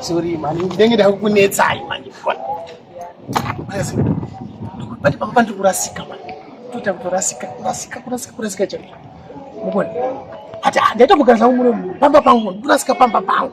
Sorry mani, ndenge ndakukunetsai mani. Basi. Bati papa ndiri kurasika mani. Toita kutorasika, kurasika, kurasika, kurasika chaiko. Mubona. Hata ndaita kugara zvangu muno pamba pangu, kurasika pamba pangu.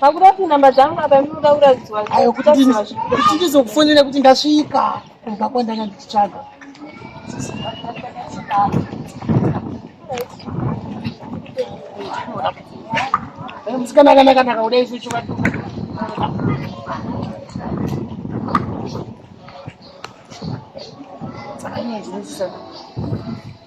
pakuda kuti namba dzangu apa inoda kuratidzwa ayo kuti ndizokufonera kuti ndasvika kumba kwandanga ndichitsvaga musikana akanaka ndakauda isu chivatuka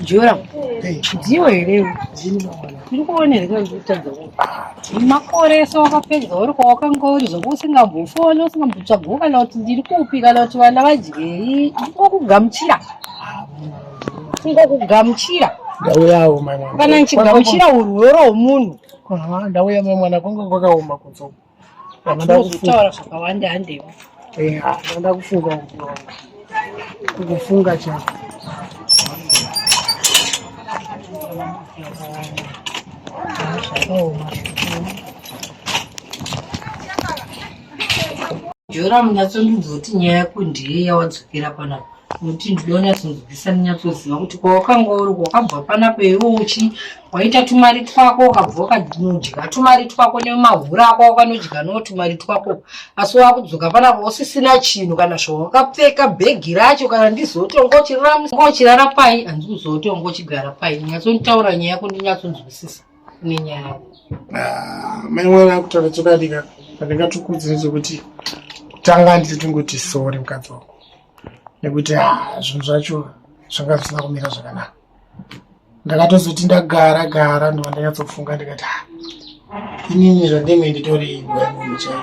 Jura, ndiyo here tiri kuona here kutadza makore so wakapedza uri kwawakanga uri zvoku usingambofoni usingambotsvagwo kana kuti ndiri kupi kana kuti vana vadyei ndingokugamuchira ndingokugamuchira ndauyawo kana ndichigamuchira urworo hwomunhu ndauya mai mwana kwanga kwakaoma kudzoka Tinozotaura zvakawanda handewo. Eh, ndoda kufunga kufunga chako. Jora munyatsondidzoti nyaya yako ndiye yawadzokera panapa nokuti ndinonyatsoziva kuti kwawakanga uri wakabva panapa iwe uchi waita tumari twako ukabva wakanodya tumari twako nemahura ako wakanodya no tumari twako asi wakudzoka panapa usisina chinhu kana zvawakapfeka bhegi racho kana ndizoto ngochirara pai hanzi kuzoto ngochigara pai nyatsonitaura nyaya yako ndinyatsonzwisisa kune nyaya yako ah, mai mwana akutaura chokadika pandingatukudzi nezvekuti tanga nditi tingoti sori mukadzi wako nekuti ah, zvinhu zvacho zvanga zvisina kumira zvakanaka ndakatozoti ndagara gara ndova ndanyatsofunga ndikati ha ah, inini zvandenge nditori imbwa yemunhu chaiyo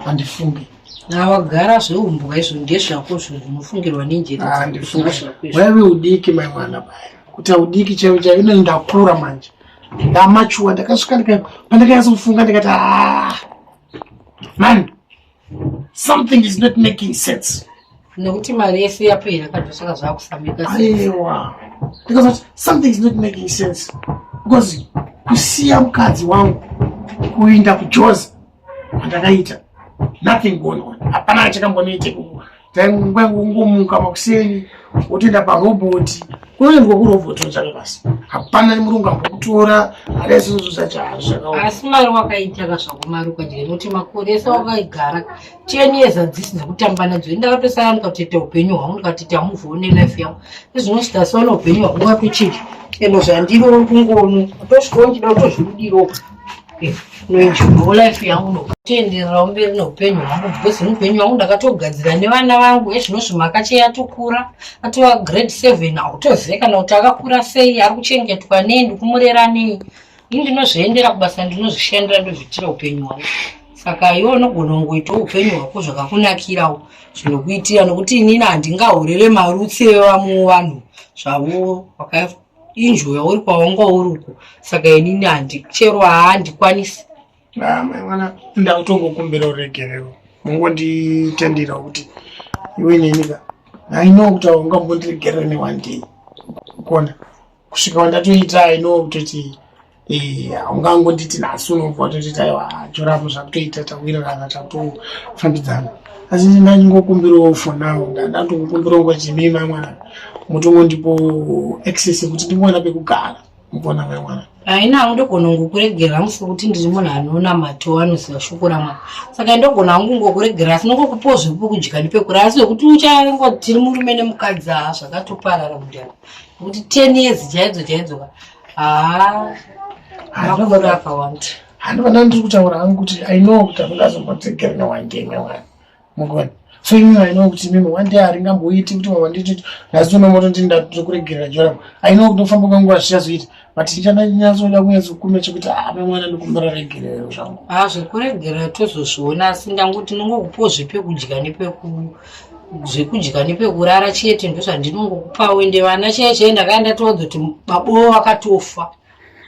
handifungi nawagara zveumbwa izvo ndezvako zvinhu zvinofungirwa nenjereaiwaive ah, udiki mai mwana baya kuti audiki chaivo chaivo inini ndakura manje ndamachuwa ndakasvika ndika pandakanyatsofunga ndikati ha ah, mani something is not making sense nekuti mari yese yapera kana zvaka zvakufambika aiwa ndikazoti something is not making sense because kusiya mukadzi wangu kuinda kujozi kwandakaita nothing going on hapana achakambonoite kuwa Tainguva kungomuka makuseni wotoenda paroboti kunoendwa kuroboti wotsvaka basa hapana murungu ambokutora ada izvozvo zvachazvakaoma asi mari wakaitaka zvako mari ukadya nekuti makore ese wakaigara ten years hadzisi dzekutamba nadzo ini ndakatosara ndikatoita upenyu hwangu ndikati ita move one life yangu izvinosvika saona upenyu hwangu watochinja eno zvandiri uri kungono utosvikawo ndida utozviudirawo noenjoyawo life yangu nokutendererawo mberi neupenyu hwangu because mupenyu wangu ndakatogadzira nevana vangu ezvinozvi makache yatokura atova grade seven autozive kana kuti akakura sei ari kuchengetwa nei ndikumurera nei ini ndinozviendera kubasa ndinozvishandira ndozviitira upenyu hwangu saka iwe unogona kungoitawo upenyu hwako zvakakunakirawo zvinokuitira nokuti inini handingahorere marutsi evamu vanhu zvavo inzvimbo yauri kwawanga uri uko saka inini handichero haandikwanisi ah, maimwana ndautongokumbira uregerero mungonditendira kuti iwe nenika aino kuti awanga mbondiregerera neone day kona kusvika wandatoita aino kutoti haungangonditi nhasi unobva watotita iwa chorapo zvakutoita tawirirana takutofambidzana asi ndingangokumbirawo for now ndandandokukumbirawo ngo jimii mai mwana mutongondipo access yekuti ndingoona pekugara mukona mai mwana haina hangu ndogona ngokuregera hangu sekuti ndiri munhu anoona mato anoziva shoko ramwa saka ndogona hangu ngokuregera asi nongokupiwo zvekukudya ndipekura asi wekuti uchango tiri murume nemukadzi haa zvakatoparara mudhara nekuti ten years chaidzo chaidzoka handivana ndiri kutaura hangu kuti i know kuti handingazombodzegeri newangeme wani mugoni so imi i know kuti mimi one day haringamboiti kuti mama nditi nhasi unomoto ndi ndatokuregerera joram i know kuti kufamba kwenguva zvichazoita but ndichandanyasoda kunyazokume chekuti ame ah, mwana ndikumbira regerero zvangu ha ah, zvekuregerera tozozviona asi ndangu tinongokupo zvepekudya nepekuu zvekudya nepekurara chete ndozvandinongokupa uende vana chee chee ndakaya ndatoodza kuti babowo vakatofa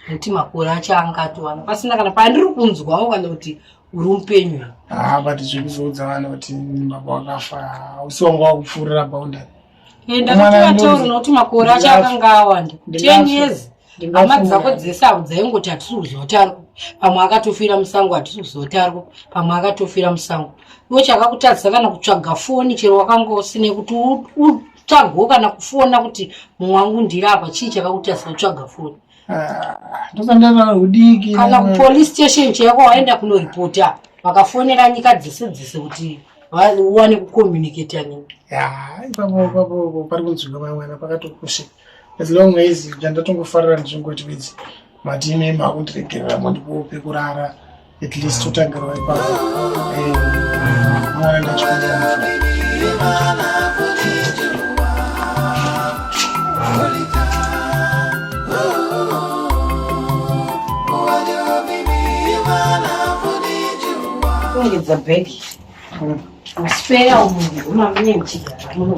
nekuti makore acho anga atovana pasina kana pandiri kunzwawo kana kuti uri mupenyu haa ah, but zvekuzoudza vana kuti baba wakafa hausi wanga wakupfuurira boundary enda kuti vataura nekuti makore acho akanga awanda ten years hama dzako dzese avo dzaingoti hatisi kuziva kuti ariko pamwe akatofira musango hatisi kuziva kuti ariko pamwe akatofira musango iwo chakakutadzisa kana kutsvaga foni chero wakanga usine kuti utsvagwo kana kufona kuti mumwe wangu ndiri apa chii chakakutadzisa kutsvaga foni ah, kana kupolice station chako waenda kunoripota vakafonera nyika dzese dzese kuti uwane kucommunicata nini pari kunzwika vamwana pakatokusika as long as ndandatongofarira ndichingoti bedzi mati ime makundiregerera mandipowo pekurara at least totangirwa ipapo mwana ndachikuita bhegi hmm. spare umunhu umamunye muchigara muno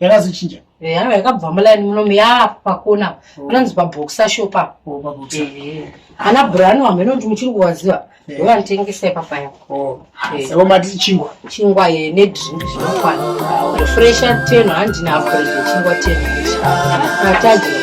yakazochinja yanga yakabva muline munomu yaa pakona oh. panonzi paboxa shop apo oh, ana brano hameno kuti muchiri kuwaziva ndovanotengesa ipapa yako savo mati chingwa chingwa ye nedrink zvinokwana fresha ten handina akoize chingwa ten ataji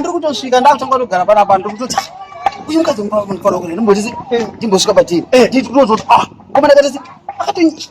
ndikutosvika ndakutanga kugara panapa ndikutotaa uyu mukadzi munofanira kuti ndimbosvika patiri nditototi ah ngoma ndakatasi akati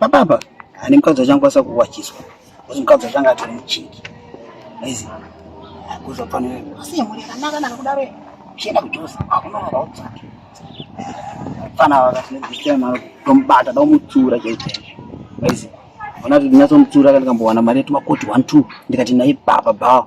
Baba apa ane mukadzi wachangwasa kuwachiswa kuti mukadzi wachanga atori muchiki aizi akuza fanira asi yemuri yakanaka naka kudaro chienda kujosa akunonoka utsaki fana vakati nedzisira mari tomubata daumutsura chaizvaizvo aizi ona kuti ndinyatsomutsura kandikambowana mari yetumakoti one two ndikati naye baba baba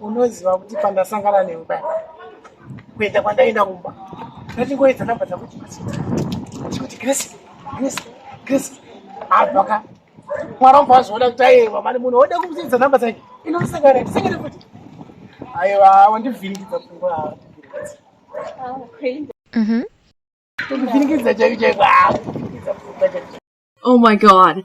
unoziva kuti pandasangana newe paya kuenda kwandaenda kumba ndatingoedza namba dzakuti kuti grace grace grace abva ka mwana wabva azviona kuti aiwa mani munhu oda kumusiidza namba dzake inosangana ndisangane futi aiwa wandivhiringidza pfungwa ndivhiringidza chaiko chaiko ndivhiringidza pfungwa chaiko oh my god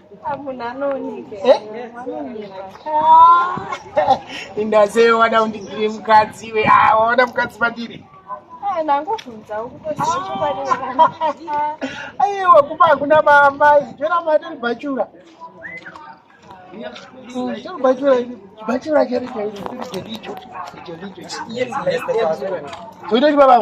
indazeyo wada undigire mukadzi iwe ah, waona mukadzi pandiri aiwa kuba hakuna maamai jona matiri bhachura toitoti baba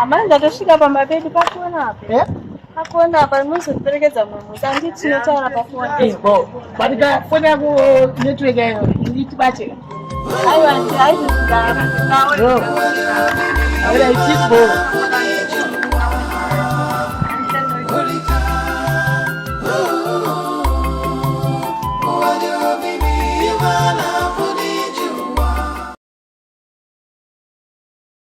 Amai ndatosvika pamba pedu pakona apa. Eh? Pakona apa muzoperekedza mumwe musi anditi tinotaura pafoni. Eh, bo. But ka foni yako network yayo nditi bate. Ayo anti ayi ndara. Bro. Ayo ichi bo. Holy